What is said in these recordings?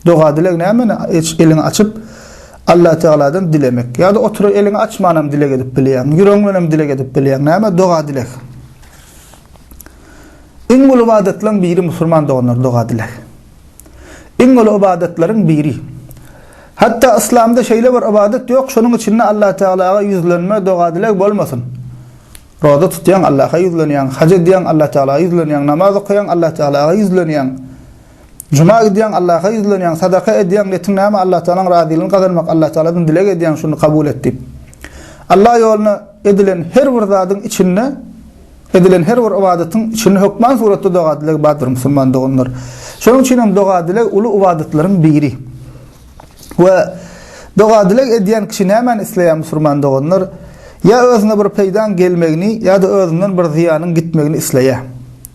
Doga dileg nämeni hiç eliňi açyp Allah Tagaladan dilemek. Ýa-da oturyp eliňi açmanam dileg edip bilýäň. Ýüregiň bilenem dileg edip bilýäň. Näme doga dileg? Iň uly ibadatlaryň biri musulman doganlar doga dileg. Iň uly ibadatlaryň biri. Hatda yslamda şeýle bir ibadat ýok, şonuň içinde Allah Tagalaga ýüzlenme, doga dileg bolmasyn. Roza tutýaň, Allaha ýüzlenýäň, haç edýäň, Allah Tagalaga ýüzlenýäň, namaz okaýaň, Allah Tagalaga ýüzlenýäň. Juma gidýäň Allaha ýüzlenýäň sadaka edýäň netiň näme Allah Tagalaň razylygyny gazanmak Allah Tagaladan dileg edýäň şuny kabul et diýip. Allah ýoluna edilen her bir zadyň içinde edilen her bir ybadatyň içinde hökman suratda doga dileg bardyr musulman doganlar. Şonuň üçin hem doga dileg uly ybadatlaryň biri. We doga dileg edýän kişi nämäni isleýär musulman doganlar? Ýa özüne bir peýdaň gelmegini ýa-da özünden bir zyýanyň gitmegini isleýär.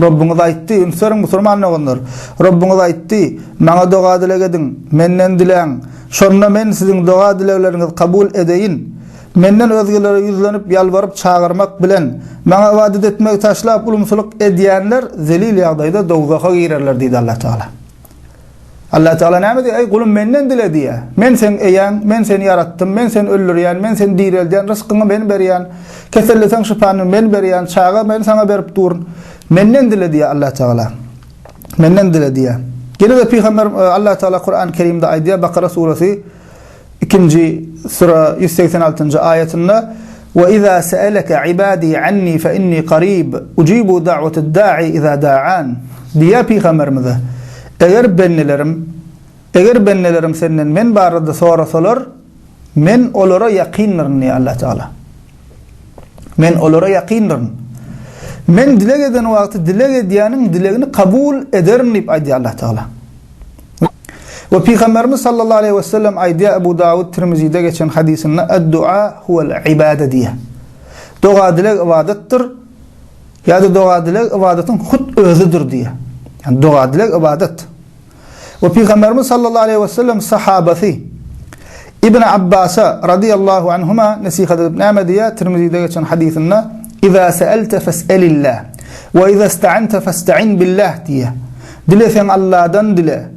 Rabbyňyz aýtdy, Üns beriň, musulman doganlar! Rabbyňyz aýtdy, Maňa doga-dileg ediň, Menden diläň, şonda Men siziň doga-dilegleriňizi kabul edeýin. Menden özgelere ýüzlenip, ýalbaryp çagyrmak bilen, Maňa ybadat etmegi taşlap, ulumsylyk edýänler zelil ýagdaýda dowzaha girerler diýdi Allatagala. Allah Teala näme diýýär? Eý gulum menden dile diýýär. Men seň eýäň, men seni ýaratdym, men seni öldürýän, men seni direldýän, ryskyňy men berýän, keselleseň şypany men berýän, çaga men saňa berip duryn. Menden dile diýýär Allah Teala. Menden dile diýýär. Ýene-de pygamber e, Allah Teala Kur'an-Kerimde aýdýar Bakara suresi Ikinji Sure ýüz segsen altynjy aýatynda, Ve iza se'eleke ibadi anni fe inni qarib, ucibu da'watad da'i iza da'an. Diýýär pygamberimize, Eger bendelerim, eger bendelerim senden men barada sorasalar, men olara ýakyndyr diýýär Allatagala. Men olara ýakyndyryn. Men dileg eden wagty dileg edýäniň dilegini kabul ederin diýip aýdýar Allah Tagala. We Pygamberimiz sallallahu aleyhi ve sellem aýdýar Ebu Dawud Tirmizide geçen hadysynda Ad-dua huwal ibade diýýär. Doga dileg ybadatdyr. Ýa-da doga dileg ybadatyň hut özüdir diýýär. Yani doga dileg ybadat. we Pygamberimiz sallallahu aleýhi we sellem sahabasy Ibn Abbasa radiyallahu anhuma nesihat edip näme diýýär? Tirmizide geçen hadysynda Iza sa'alta fas'alillah we iza ista'anta fasta'in billah diýýär. Dileseň Allahdan dile.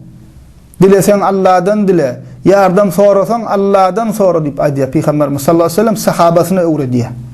Dileseň Allahdan dile. Ýardam sorasaň Allahdan sora diýip aýdýar Pygamberimiz sallallahu aleýhi we sellem sahabasyna öwredýär.